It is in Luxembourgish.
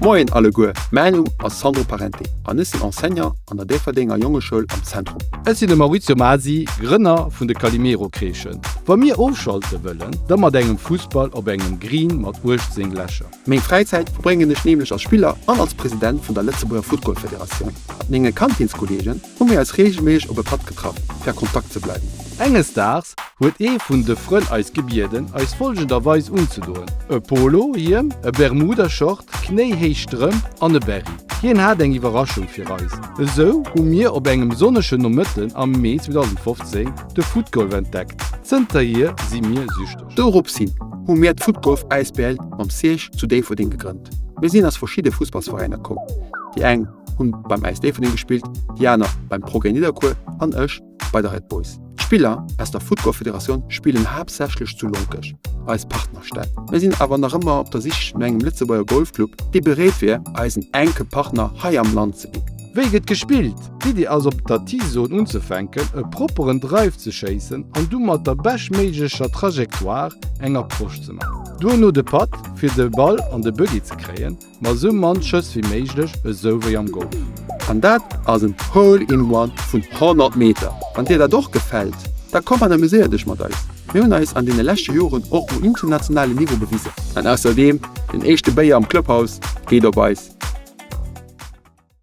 Moien alleguer, mäin Numm ass Sandro Parente an ech sinn Enseignant an der Déifferdenger Jongeschoul am Zentrum. Ech sinn de Maurizio Masi, Grënner vun de Calimero-Kreeschen. Wa mir ofschalte wëllen, da mat engem Fussball op engem Green mat 18 Lächer. Meng Fräizäit verbréngen ech nämlech als Spiller an als President vun der Lëtzebuerger Footgolfederatioun mat menge Kantinskollegen. hu mir eis reegelméisseg op e Patt getraff fir a Kontakt ze bleiwen. Enges Daags huet ee vun de Frënn eis gebieden eis folgender Weis unzedoen, e Polo Hiem, e Bermuda Short, knéihéich Strëmp an e Berry. Hien hat eng Iwwerraschung fir eis. Esou hu mir op engem sonnegen Nomëtten am Mee 2015 de Footgolf entdeckt. Zënterhier si mir süchteg. Doropshin hu mir d'Footgolf Asbl mam Serge zu Déifferdeng gegrënnt. Mir sinn aus verschidde Fussballsveräiner komm, déi eng. hunn beim Äis Déifferdeng gespillt, déi aner beim Progrès Nidderkuer an ech bei de Red Boys. D'Spiller aus der Footballfederatioun spillen haaptsächlech zu Lonkech, eis Partnerstad. Mir sinn awer nach ëmmer op der Sich no engem Lëtzebuerger Golfclub, dee bereet wier, eisen enke Partner hei am Land ze ginn. Wéi gëtt gespillt? D'Iddi ass op der T-Zone unzefänken, e propperen Drive ze schéissen an du mat der beschtméiglecher Trajectoire eng Approche ze maachen. Duerno de Putt, fir de Ball an de Buggy ze kréien. Ma sou mann Schëss wéi méiglech, esou wéi am Golf. An dat ass en Hole in One vun 100 Meter. Wann dir dat och gefält, da komm an amuséier dech mat eis. Mir hunn eis an deene leschte Joren och um internationale Niveau bewisen. An ausserdeem, den éischte Béier am Clubhaus geet op eis.